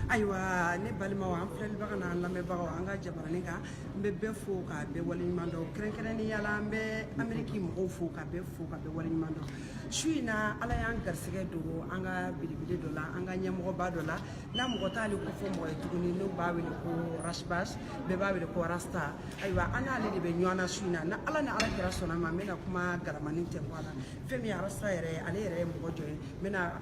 ayiwa ne balimaw an filɛlibagaw n'an lamɛnbagaw an ka jabaranin kan n bɛ bɛɛ fo ka bɛɛ waleɲuman dɔn kɛrɛnkɛrɛnnenya la an bɛ ameriki mɔgɔw fo ka bɛɛ fo ka bɛɛ waleɲuman dɔn su in na ala y'an garisɛgɛ don an ka belebele dɔ la an ka ɲɛmɔgɔba dɔ la n'a mɔgɔ t'ale kofɔ mɔgɔ ye tuguni n'u b'a wele ko ras bath bɛɛ b'a wele ko rasta ayiwa an n'ale de bɛ ɲɔgɔn na su in na n'ala ni ala kira sɔnna ma n bɛna kuma galamanin tɛ bɔ a la fɛn min ye rasta yɛrɛ ye ale yɛrɛ ye mɔgɔ jɔn ye n bɛna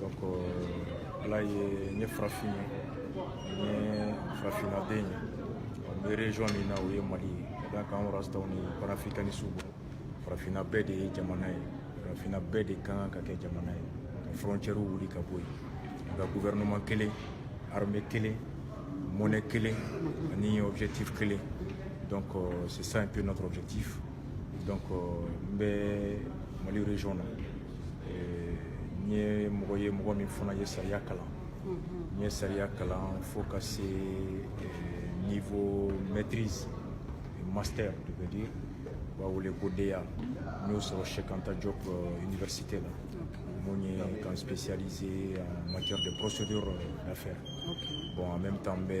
donc euh, ala ye n ye farafin ye n ye farafinnaden ye n bɛ région min na o ye mali ye ka d'a kan anw rastaw ni panafricanisiw bolo farafinna bɛɛ de ye jamana ye farafinna bɛɛ de ka kan ka kɛ jamana ye ka frontières wuli ka bɔ yen ka gouvernement kelen armée kelen monnaie kelen ani objectif kelen donc euh, c'est ça un peu notre objectif donc n bɛ mali région na n ye mɔgɔ ye mɔgɔ min fana ye sariya kalan n ye sariya kalan fo ka se niveau maîtrise master je veux dire u b'a wele ko DEA n y'o sɔrɔ Cheikh Anta Diop euh, université la mun ye ka n spécialiser en matière de procédure d'affaires bon en même temps n bɛ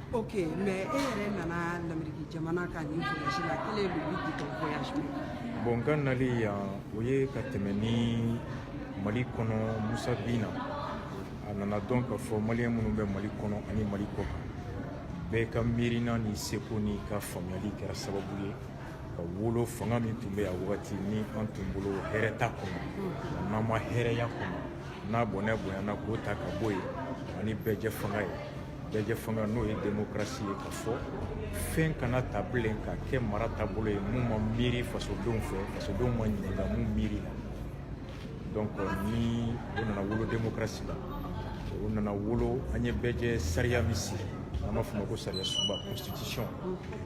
ok mais e yɛrɛ nana lameriki jamana kan nin voyage la quel est le but du voyage bon n ka nali yan o ye ka tɛmɛ ni mali kɔnɔ musa binna a nana dɔn k'a fɔ maliyɛn minnu bɛ mali kɔnɔ ani mali kɔ kan bɛɛ ka miirina n'i seko n'i ka faamuyali kɛra sababu ye ka wolo fanga min tun bɛ yan wagati ni an tun bolo hɛrɛ t'a kɔnɔ n'an ma hɛrɛya kɔnɔ n'a bɔnɛ bonyana k'o ta ka bɔ yen ani bɛɛjɛ fanga ye bɛɛjɛ fanga n'o ye demokrasi ye k'a fɔ fɛn kana ta bilen ka kɛ mara taabolo ye mun ma miiri fasodenw fɛ fasodenw ma ɲininka mun miiri la donc ni o nana wolo demokrasi la o nana wolo an ye bɛɛjɛ sariya min sigi an b'a fɔ a ma ko sariya sunba constitution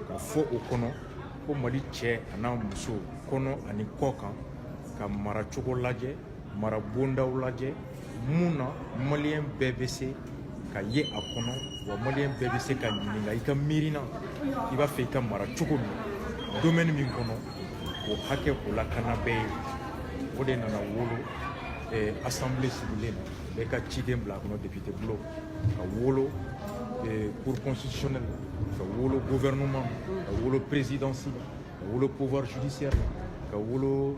k'a fɔ o kɔnɔ ko mali cɛ an'a muso kɔnɔ ani kɔ kan ka mara cogo lajɛ mara bondaw lajɛ mun na maliyɛn bɛɛ bɛ se ka ye a kɔnɔ wa maliyɛn bɛɛ bɛ se ka ɲininka i ka miirina i b'a fɛ i ka mara cogo min domaine min kɔnɔ k'o hakɛ k'o lakana bɛɛ ye o de nana wolo eh, assemblée sigilen na bɛɛ ka ciden bila a kɔnɔ député bulon ka wolo eh, cour constitutionnelle ka wolo gouvernement ka wolo présidence ka wolo pouvoir judiciaire ka wolo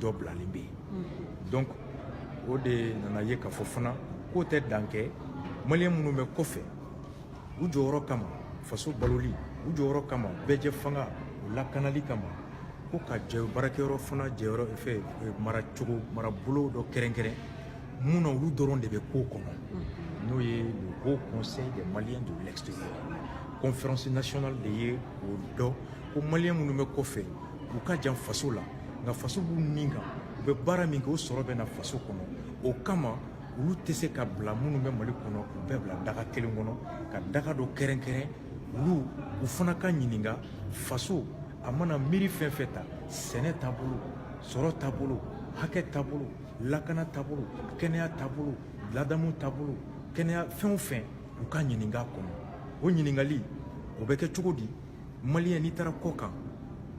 dɔ bilalen bɛ yen mm-hmm. donc o de nana ye k'a fɔ fana k'o tɛ dan kɛ maliyɛn minnu bɛ kɔfɛ u jɔyɔrɔ kama faso baloli u jɔyɔrɔ kama bɛɛjɛ fanga o lakanali kama ko ka jɛ baarakɛyɔrɔ fana jɛyɔrɔ fɛ eh, maracogo marabolo dɔ kɛrɛnkɛrɛn mun na olu dɔrɔn de bɛ k'o kɔnɔ mm-hmm. n'o ye le haut conseil des maliens de l'extérieur conférence nationale de ye o dɔn ko maliyɛn minnu bɛ kɔfɛ u ka jan faso la nka faso b'u nin kan u bɛ baara min kɛ o sɔrɔ bɛ na faso kɔnɔ o kama olu tɛ se ka bila minnu bɛ mali kɔnɔ u bɛɛ bila daga kelen kɔnɔ ka daga dɔ kɛrɛnkɛrɛn olu u fana ka ɲininka faso a mana miiri fɛn fɛn ta sɛnɛ taabolo sɔrɔ taabolo hakɛ taabolo lakana taabolo kɛnɛya taabolo ladamu taabolo kɛnɛya fɛn o fɛn u ka ɲininka kɔnɔ o ɲininkali o bɛ kɛ cogo di maliyɛn n'i taara kɔ kan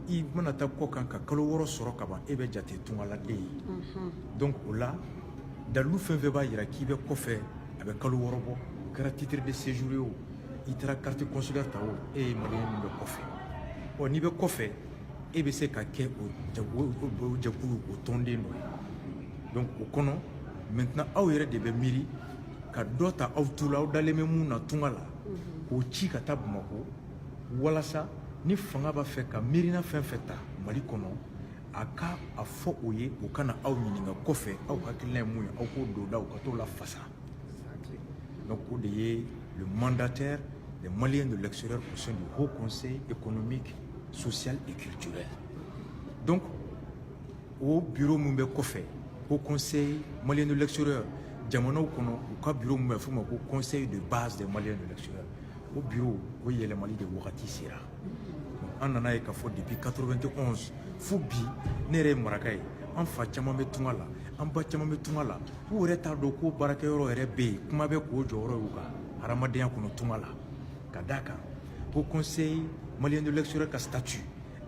i mana taa kɔ kan ka kalo wɔɔrɔ sɔrɔ ka ban e bɛ jate tungaladen ye mhm. donc o la dalilu fɛn fɛn b'a yira k'i bɛ kɔfɛ a bɛ kalo wɔɔrɔ bɔ o kɛra titre de séjour ye o i taara carte consulaire ta o e ye maliyɛn min bɛ kɔfɛ ɔ n'i bɛ kɔfɛ e bɛ se ka kɛ o jɛkulu o tɔnden dɔ ye donc o kɔnɔ maintenant aw yɛrɛ de bɛ miiri ka dɔ ta aw tu la aw dalen bɛ mun na tunga la mhm. k'o ci ka taa bamakɔ walasa ni fanga b'a fɛ ka miirina fɛn fɛn ta mali kɔnɔ a ka a fɔ o ye o ka na aw ɲininka kɔfɛ aw hakilina ye mun ye aw k'o don da u ka t'o lafasa donc o de ye le mandataire des maliens de l'extérieur au sein du haut conseil économique social et culturel donc o bureau min bɛ kɔfɛ haut conseil malien de l'extérieur jamanaw kɔnɔ u ka bureau min bɛ f'o ma ko conseil de base des maliens de l'extérieur o biro o yɛlɛmali de wagati sera an nana ye k'a fɔ depuis 91 fo bi ne yɛrɛ ye maraka ye an fa caman bɛ tunga la an ba caman bɛ tunga la u yɛrɛ t'a dɔn ko baarakɛyɔrɔ yɛrɛ bɛ yen kuma tɛ k'o jɔyɔrɔ y'u ka hadamadenya kɔnɔ tunga la ka d'a kan haut conseil malien de l'extérieur ka statut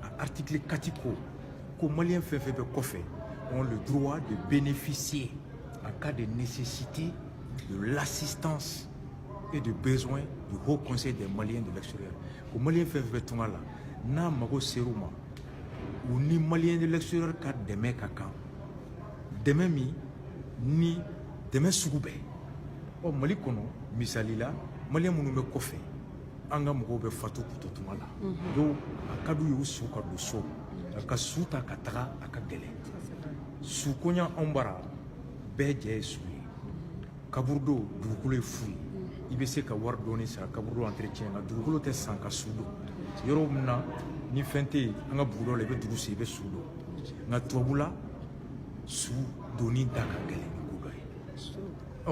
a article 4 ko ko malien fɛn fɛn bɛ kɔfɛ ont le droit de bénéficier en cas de nécessité de l'assistance et de besoin du haut conseil des maliens de l'extérieur ko maliyɛn fɛn fɛn bɛ tunga la n'a mago ser'u ma u ni maliyɛn de l'extérieur ka dɛmɛ ka kan dɛmɛ min ni dɛmɛ sugu bɛɛ ɔ mali kɔnɔ misali la maliyɛn minnu bɛ kɔfɛ an ka mɔgɔw bɛ fatu k'u to tunga la mhm. donc a ka d'u ye u su ka don so mhm. ka su ta ka taga a ka gɛlɛn sukoɲa anw bara bɛɛ jɛ ye su kaburudo dugukolo ye fu ye i bɛ se ka wari dɔɔni sara kaburudo entretien nka dugukolo tɛ san ka su don yɔrɔ min na ni fɛn tɛ yen an ka bugudaw la i bɛ dugu sen i bɛ su don nka tubabula su donni da ka gɛlɛn ni ko dɔ ye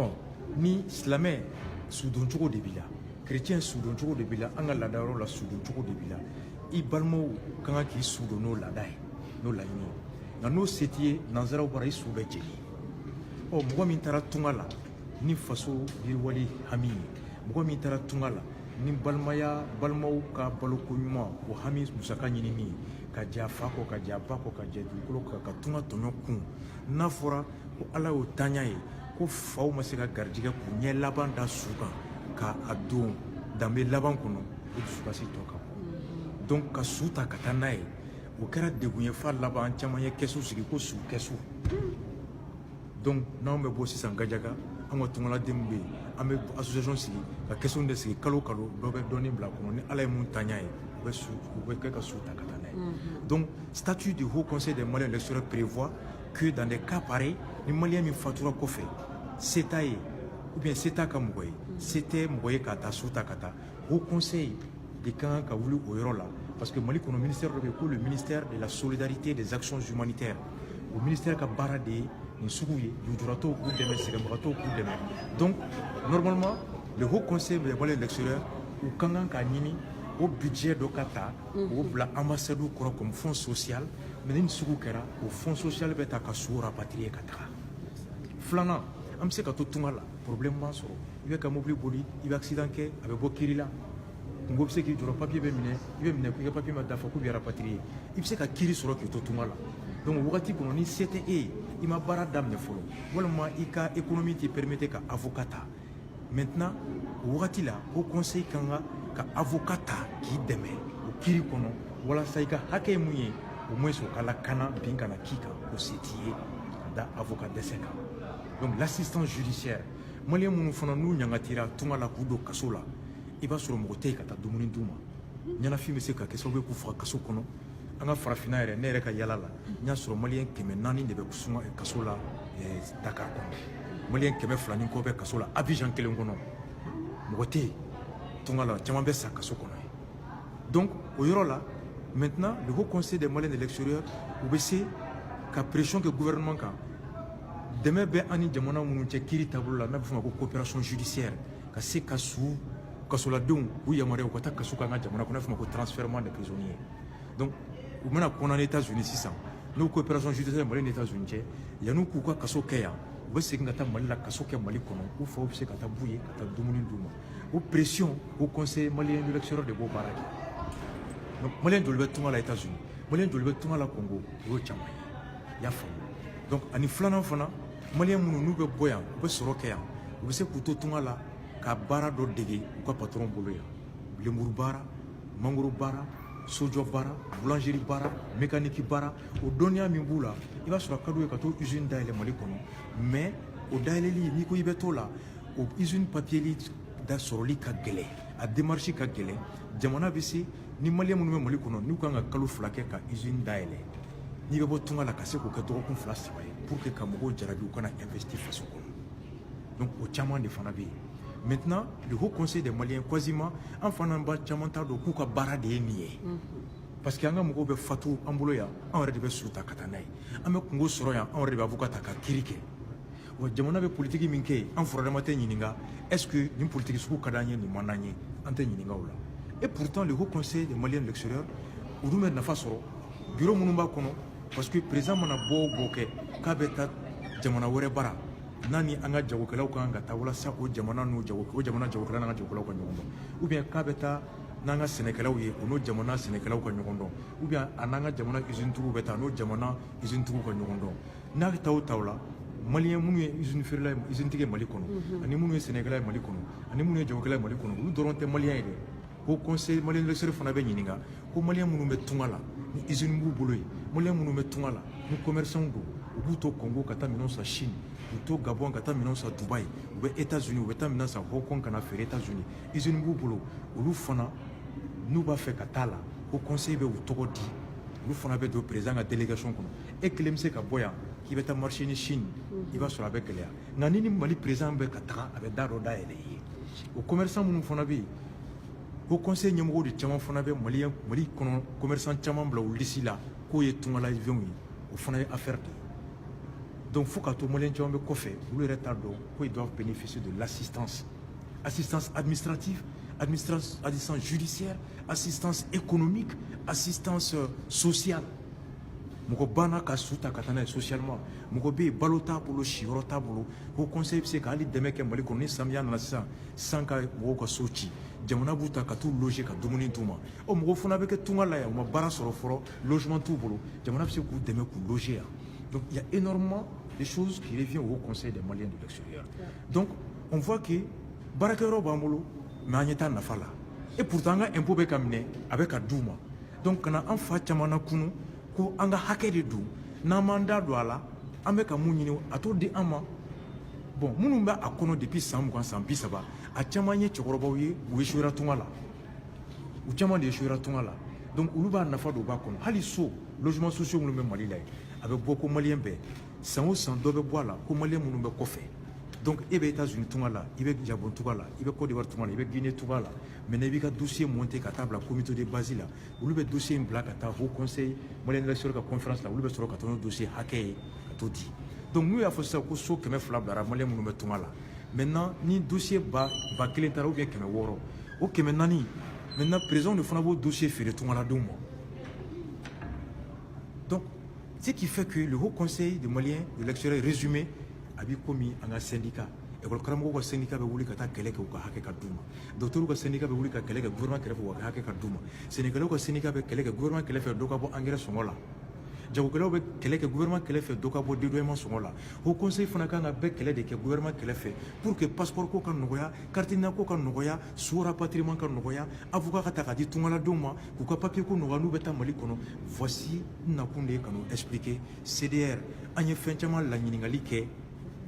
ɔ ni silamɛ sudon cogo de b'i la kerecɛn sudon cogo de b'i la an ka laada yɔrɔ la sudon cogo de b'i la i balimaw ka kan k'i su don n'o laada ye n'o laɲini ye nka n'o se t'i ye nanzaraw bara i su bɛ jeni ɔ mɔgɔ min taara tunga la ni faso yiriwali hami ye mɔgɔ min taara tunga la ni balimaya balimaw ka baloko ɲuman o hami musaka ɲinini ye ka jɛ a fa kɔ ka jɛ a ba kɔ ka jɛ dugukolo kɔ ka tunga tɔɲɔ kun n'a fɔra ko ala y'o tanya ye ko faw ma se ka garijɛgɛ k'u ɲɛ laban da su kan ka a don danbe laban kɔnɔ o dusukasi tɔ ka bon donc ka su ta ka taa n'a ye o kɛra degun ye f'a laban caman ye kɛsu sigi ko su kɛsu donc n'anw bɛ bɔ sisan gajaga an ka tungaladenw bɛ yen an bɛ association sigi ka kɛsu de sigi kalo kalo dɔ bɛ dɔɔnin bila kɔnɔ ni ala ye mun tanya ye u bɛ kɛ ka su ta ka taa n'a ye donc statut du haut conseil des maliens de l'extérieur prévoit que dans des cas pareils ni malien min fatura kɔfɛ se t'a ye ou bien se t'a ka mɔgɔ ye se tɛ mɔgɔ ye k'a ta su ta ka taa Haut Conseil de ka kan ka wuli o yɔrɔ la parce que Mali kɔnɔ ministère dɔ bɛ yen ko le ministère de la solidarité des actions humanitaires o ministère ka baara de ye nin sugu ye lujuratɔw k'u dɛmɛ sɛgɛnbagatɔw k'u dɛmɛ donc normalement le haut conseil des maliens de l'extérieur u ka kan k'a ɲini o budget dɔ ka ta k'o bila ambassade kɔrɔ comme fonds social mais ni nin sugu kɛra o fonds social bɛ ta ka su rapatrier ka taga filanan an bɛ se ka to tunga la problème b'an sɔrɔ i bɛ ka mobili boli i bɛ accident kɛ a bɛ bɔ kiri la kunko bɛ se k'i jɔrɔ papiye bɛ minɛ i bɛ minɛ ko i ka papiye ma dafa k'u bɛ rapatrier i bɛ se ka kiri sɔrɔ k'i to tunga la donc wagati kɔnɔ ni se tɛ e ye i ma baara daminɛ fɔlɔ walima i ka économie t'i permettre ka avocat ta maintenant o wagati la haut conseil ka kan ka avocat ta k'i dɛmɛ o kiri kɔnɔ walasa i ka hakɛ ye mun ye au moins o ka lakana bin kana k'i kan o se t'i ye ka da avocat dɛsɛ kan donc l'assistance judiciaire maliyɛn minnu fana n'u ɲangatira tunga la k'u don kaso la i b'a sɔrɔ mɔgɔ tɛ yen ka taa dumuni d'u ma ɲɛnafin bɛ se ka kɛ sababu ye k'u faga kaso kɔnɔ an ka farafinna yɛrɛ ne yɛrɛ ka yala la n y'a sɔrɔ maliyɛn kɛmɛ naani de bɛ sunga kaso la eh, dakar kɔnɔ maliyɛn kɛmɛ fila ni kɔ bɛ kaso la abijan kelen kɔnɔ mɔgɔ tɛ yen tunga la caman bɛ sa kaso kɔnɔ donc o yɔrɔ la maintenant le haut conseil des maliens de l'extérieur u bɛ se ka pression kɛ gouvernement kan dɛmɛ bɛ an ni jamana minnu cɛ kiri taabolo la n'a bɛ f'o ma ko coopération judiciaire ka se ka su kasoladenw u yamaruya u ka taa kaso k'an ka jamana kɔnɔ n'a bɛ f'o ma ko transfèrement des prisonniers donc u mana condamné États-Unis sisan n'o coopération judiciaire Mali ni États-Unis cɛ yan'u k'u ka kaso kɛ yan u bɛ segin ka taa Mali la kaso kɛ Mali kɔnɔ u faw bɛ se ka taa b'u ye ka taa dumuni d'u ma o pression haut conseil malien de l'extérieur de b'o baara kɛ donc malien joli bɛ tunga la États-Unis malien joli bɛ tunga la Congo o y'o caman ye i y'a faamu donc ani filanan fana maliyɛn minnu n'u bɛ bɔ yan u bɛ sɔrɔ kɛ yan u bɛ se k'u to tunga la ka baara dɔ dege u ka patɔrɔn bolo yan lenburu baara mangoro baara sojɔ baara boulangerie baara mécanique baara o dɔnniya min b'u la i b'a sɔrɔ a ka d'u ye ka t'o usine dayɛlɛ mali kɔnɔ mais o dayɛlɛli n'i ko i bɛ t'o la o usine papiyeli da sɔrɔli ka gɛlɛn a démarche ka gɛlɛn jamana bɛ se ni maliyɛn minnu bɛ mali kɔnɔ n'u kan ka kalo fila kɛ ka izini dayɛlɛ n'i bɛ bɔ tunga la ka se k'o kɛ dɔgɔkun fila saba ye pour que ka mɔgɔw jarabi u ka na investi faso kɔnɔ donc o caman de fana bɛ yen maintenant le haut conseil des maliens quasiment an fana ba caman t'a dɔn k'u ka baara de ye nin ye parce que an ka mɔgɔw bɛ fatu an bolo yan anw yɛrɛ de bɛ su ta ka taa n'a ye an bɛ kunko sɔrɔ yan anw yɛrɛ de bɛ avocat ta ka kiri kɛ wa jamana bɛ politiki min kɛ an furadama tɛ ɲininka est ce que nin politiki sugu ka d'an ye nin man d'an ye an tɛ ɲininka o la et pourtant le haut conseil des maliens de l'extérieur olu bɛ nafa sɔrɔ bureau minnu b'a kɔnɔ parce que président mana bɔ o bɔ kɛ k'a bɛ taa jamana wɛrɛ bara n'a ni an ka jagokɛlaw ka kan ka taa walasa o jamana n'o jago o jamana jagokɛla n'an ka jagokɛlaw ka ɲɔgɔn dɔn ou bien k'a bɛ taa n'an ka sɛnɛkɛlaw ye o n'o jamana sɛnɛkɛlaw ka ɲɔgɔn dɔn ou bien a n'an ka jamana usine tigiw bɛ taa n'o jamana usine tigiw ka ɲɔgɔn dɔn n'a taa o taa o la malien minnu ye izini feerela ye izinitigi ye mali kɔnɔ ani minnu ye sɛnɛkɛla ye mali kɔnɔ ani minnu ye jagokɛla ye mali kɔnɔ olu dɔrɔn tɛ malien ye dɛ haut conseil malien de l'extérieur fana bɛ ɲininka ko malien minnu bɛ tunga la ni izini b'u bolo yen malien minnu bɛ tunga la ni commerçantw don u b'u to Congo ka taa minɛn san Chine u to Gabon ka taa minɛn san Dubaï u bɛ États-Unis u bɛ taa minɛn san Hong Kong ka na feere États-Unis izini b'u bolo olu fana n'u b'a fɛ ka taa le haut conseil bɛ u tɔgɔ di olu fana bɛ don président ka délégation kɔnɔ e kelen bɛ se ka bɔ yan k'i bɛ taa marché ɲini Chine i b'a sɔrɔ a bɛ gɛlɛya nka ni ni Mali président bɛ ka taga a bɛ da dɔ dayɛlɛ i ye o commerçant minnu fana bɛ yen haut conseil ɲɛmɔgɔw de caman fana bɛ Mali Mali kɔnɔ commerçant caman bila o lisi la k'o ye tungalayifɛnw ye o fana ye affaire de ye donc fo ka to maliyɛn caman bɛ kɔfɛ olu yɛrɛ t'a dɔn ko ils doivent bénéficier de l'assistance assistance administrative, assistance judiciaire, assistance économique, assistance euh, sociale. mɔgɔ banna ka su ta ka taa n'a ye socialement mɔgɔ bɛ yen balo t'a bolo siyɔrɔ t'a bolo haut conseil bɛ se ka hali dɛmɛ kɛ mali kɔnɔ ni samiya nana sisan san ka mɔgɔw ka so ci jamana b'u ta ka t'u loger ka dumuni d'u ma o mɔgɔ fana bɛ kɛ tunga la yan u ma baara sɔrɔ fɔlɔ logement t'u bolo jamana bɛ se k'u dɛmɛ k'u loger yan donc il y a énormément de choses qui revient au conseil des maliens de l'extérieur donc on voit que baarakɛyɔrɔ b'an bolo mais an ɲɛ t'a nafa la et pourtant an ka impôt bɛ ka minɛ a bɛ ka d'u ma donc kana an fa caman na kunu ko an ka hakɛ de don n'an m'an da don a la an bɛ ka mun ɲini a t'o di an ma bon minnu bɛ a kɔnɔ depuis san mugan san bi saba a caman ye cɛkɔrɔbaw ye u échouera tunga la u caman de échouera tunga la donc olu b'a nafa dɔn u b'a kɔnɔ hali so logements sociaux minnu bɛ mali la yen a bɛ bɔ ko maliyɛn bɛɛ san o san dɔ bɛ bɔ a la ko maliyɛn minnu bɛ kɔfɛ donc e bɛ états unis tunga la i bɛ gabon tunga la i bɛ côte d'ivoire tunga la i bɛ guinée tunga la maintenant i b'i ka dossier monter ka taa bila comité de base la olu bɛ dossier in bila ka taa haut conseil malien de l'extérieur ka conférence la olu bɛ sɔrɔ ka taa n'o dossier hakɛ ye ka t'o di donc n'u y'a fɔ sisan ko so kɛmɛ fila bilara maliyɛn minnu bɛ tunga la maintenant ni dossier ba ba kelen taara ou bien kɛmɛ wɔɔrɔ o kɛmɛ naani maintenant président de fana b'o dossier feere tungaladenw ma Donc, ce qui fait que le Haut Conseil des Maliens de l'extérieur résumé a b'i komi an ka syndicat école karamɔgɔw ka syndicat bɛ wuli ka taa kɛlɛ kɛ u ka hakɛ ka d'u ma dɔgɔtɔrɔw ka syndicat bɛ wuli ka kɛlɛ kɛ gouvernement kɛrɛfɛ u ka hakɛ ka d'u ma sɛnɛkɛlaw ka syndicat bɛ kɛlɛ kɛ gouvernement kɛrɛfɛ dɔ ka bɔ angɛrɛ sɔngɔ la jagokɛlaw bɛ kɛlɛ kɛ gouvernement kɛrɛfɛ dɔ ka bɔ dédouanement sɔngɔ la haut conseil fana kan ka bɛɛ kɛlɛ de kɛ gouvernement kɛrɛfɛ pour que passeport ko ka nɔgɔya carte d'identité ko ka nɔgɔya su rapatriement ka nɔgɔya avocat ka ta ka di tungaladenw ma k'u ka papiye ko nɔgɔya n'u bɛ taa mali kɔnɔ voici n nakun de ye ka n'o expliquer cdr an ye fɛn caman laɲininkali kɛ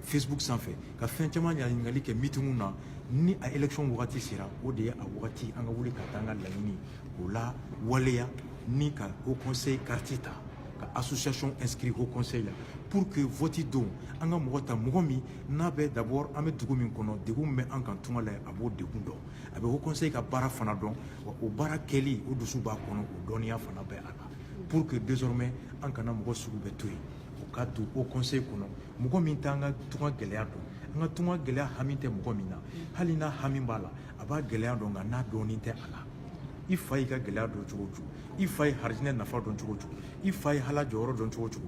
facebook sanfɛ ka fɛn caman laɲininkali kɛ mitinw na ni a élection wagati sera o de ye a wagati an ka wuli ka taa an ka laɲiniw lawaleya ni ka haut conseil carte ta ka association inscrit haut conseil la pour que vote don an ka mɔgɔ ta mɔgɔ min n'a bɛ d'abord an bɛ dugu min kɔnɔ degun min bɛ an kan tunga la a b'o degun dɔn a bɛ haut conseil ka baara fana dɔn wa o baara kɛli o dusu b'a kɔnɔ o dɔnniya fana bɛ a la pour que désormais an kana mɔgɔ sugu bɛɛ to yen o ka to haut conseil kɔnɔ mɔgɔ min t'an ka tunga gɛlɛya dɔn an ka tunga gɛlɛya hami tɛ mɔgɔ min na hali n'a hami b'a la a b'a gɛlɛya dɔn nka n'a dɔnni tɛ a la i fa y'i ka gɛlɛya dɔn cogo o cogo i fa ye harijinɛ nafa dɔn cogo o cogo i fa ye ala jɔyɔrɔ dɔn cogo o cogo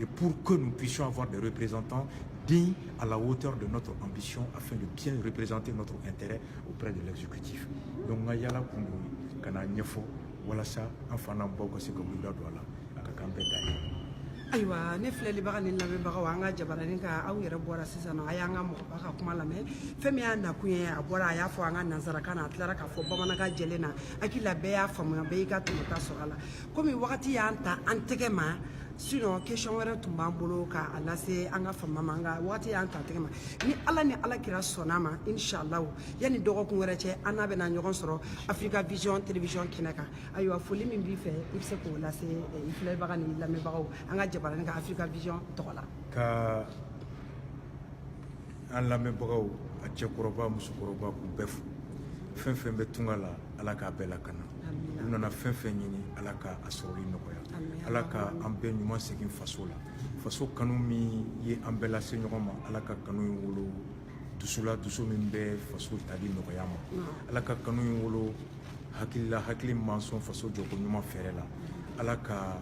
Et pour que nous puissions avoir des représentants dignes à la hauteur de notre ambition afin de bien représenter notre intérêt auprès de l'exécutif. Donc, nous avons ayiwa ne filɛlibaga ni lamɛnbagaw an ka jabaranin kan aw yɛrɛ bɔra sisan a y'an ka mɔgɔba ka kuma lamɛn fɛn min y'a nakun ye a bɔra a y'a fɔ an ka nansarakan na a tilara k'a fɔ bamanankan jɛlen na hakili la bɛɛ y'a faamuya bɛɛ y'i ka tɔmɔta sɔrɔ a la komi wagati y'an ta an tɛgɛ ma sinon question wɛrɛ tun b'an bolo k'a lase an ka faama ma nka wagati y'an ta an tɛgɛ ma ni ala ni ala kira sɔnna a ma inshallahu yanni dɔgɔkun wɛrɛ cɛ an n'a bɛna ɲɔgɔn sɔrɔ africa vision télévision kɛnɛ kan ayiwa foli min b'i fɛ i bɛ se k'o lase eh, i filɛbaga ni lamɛnbagaw an ka jabaranin kan africa vision tɔgɔ la ka an lamɛnbagaw a cɛkɔrɔba musokɔrɔba k'u bɛɛ fo fɛn fɛn bɛ tunga la ala k'a bɛɛ lakana u nana fɛn fɛn ɲini ala ka a sɔrɔli nɔgɔya ala ka an bɛɛ ɲuman segin faso la faso kanu min ye an bɛɛ lase ɲɔgɔn ma ala ka kanu in wolo dusu la dusu min bɛ faso taali nɔgɔya ma ala ka kanu in wolo hakili la hakili man sɔn faso jɔko ɲuman fɛɛrɛ la ala ka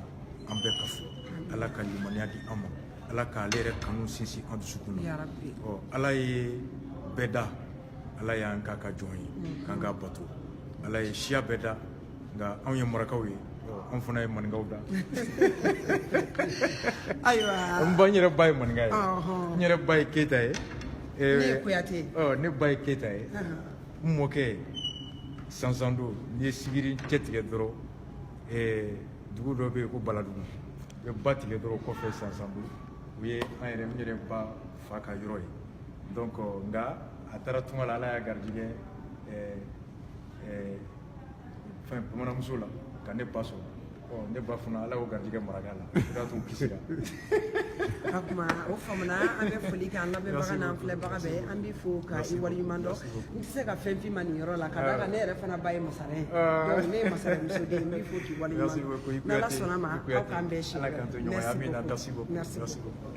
an bɛɛ kafo ala ka limaniya di an ma ala k'ale yɛrɛ kanu sinsin an dusukun na ɔ ala ye bɛɛ da ala y'an k'a ka jɔn ye mm-hmm. k'an k'a bato ala ye siya bɛɛ da nka anw ye marakaw ye an fana ye maninkaw da ayiwa n ba n yɛrɛ ba ye maninka ye n yɛrɛ ba ye keyita ye ne ye kuyate ɔ ne ba ye keyita ye n mɔkɛ sansando n'i ye sigiri cɛtigɛ dɔrɔn dugu dɔ bɛ yen ko baladugu u bɛ ba tigɛ dɔrɔn kɔfɛ sansando o ye an yɛrɛ n yɛrɛ ba fa ka yɔrɔ ye donc nka a taara tunga la ala y'a garijigɛ ɛɛ ɛɛ fɛn bamananmuso la ka ne ba sɔrɔ ɔ ne ba fana ala y'o garijigɛ maraka la o de y'a to u kisira kuma o faamuna an bɛ foli kɛ an lamɛnbaga n'an filɛbaga bɛɛ an b'i fo ka i waleɲuman dɔn n tɛ se ka fɛn f'i ma nin yɔrɔ la ka d'a kan ne yɛrɛ fana ba ye masare ye donc ne ye masaremuso den n b'i fo k'i waleɲuman dɔn n'ala sɔnna a ma aw k'an bɛɛ si merci beaucoup merci beaucoup